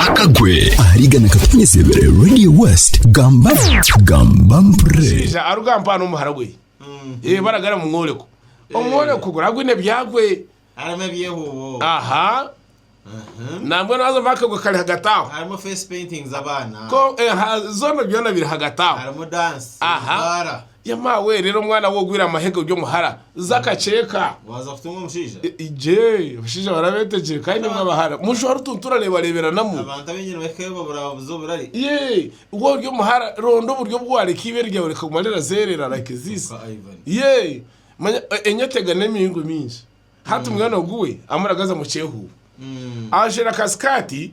akagwe ahariga nakatukunyesebere radio west gamba gamba mpre omushaija aruga mpaha n'omuhara gwe Eh, baragara mu mwoleko omwoleko guraba gwine ebyagwe harimu ebyehuubo aha Mhm. nambwe nazo vakagwe kari hagati aho harimu face painting z'abaana ko eh, ha- zona byona biri hagati aho harimu dance Aha. bara Yama we rero mwana we ogwire amahega ori omuhara za akaceeka. Waza kutunga omushaija. Jee abashaija barabetegyire kandi nimwe abahara mujwa rutuntu orarebareberanamu. Abantu abaingi nibahika eyo babura ababuza oburari. Yee we ori omuhara ronda oburyo obu wareka ibere ryawe rikaguma rirazerera like this. Nka Ivan. Yee manya enyota egana emiringo mingi hati mwana ogu we amuragaza mukyehuba ajwire akasikaati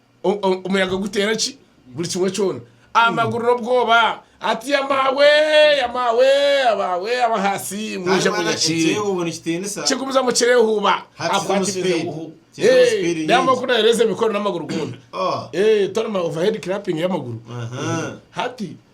Omuyaga guteera ki? Buri kimwe kyona. Amaguru n'obwoba. Ati, Ya maawe, ya maawe, abaawe ab'ahansi, mwije munyakire. Kigumizamu kirehuuba. Akwatiriire buhu. Naamara ku nayoreeza emikono n'amaguru goona. Tony Mao, Overhead Clapping y'amaguru. Hati.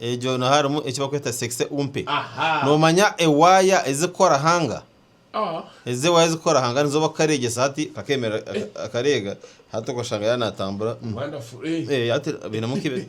Egyo niho harimu eki barikweta sekise umpe. Noomanya ewaaya ezirikukora hanga? Ezo ewaaya ezirikukora hanga nizo barikukareegyesa hati kakeemerera kakareega hati okashanga yaaba naatambura hati bainemu nk'ebi.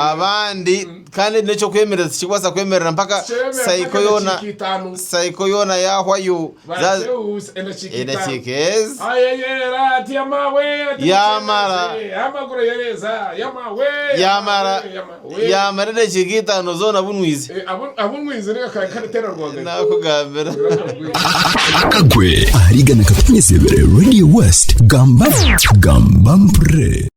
abandi kandi n'eky'okwemerera tikirikubaasa kwemerera mpaka saiko yoona saiko yoona yaahwayo za- edakiika ezi Yamara. yamara yamara edakiika itaano zoona bunwize nakugambira akagwe ahariga nakatufunyisibire radio west gamba gamba mpurire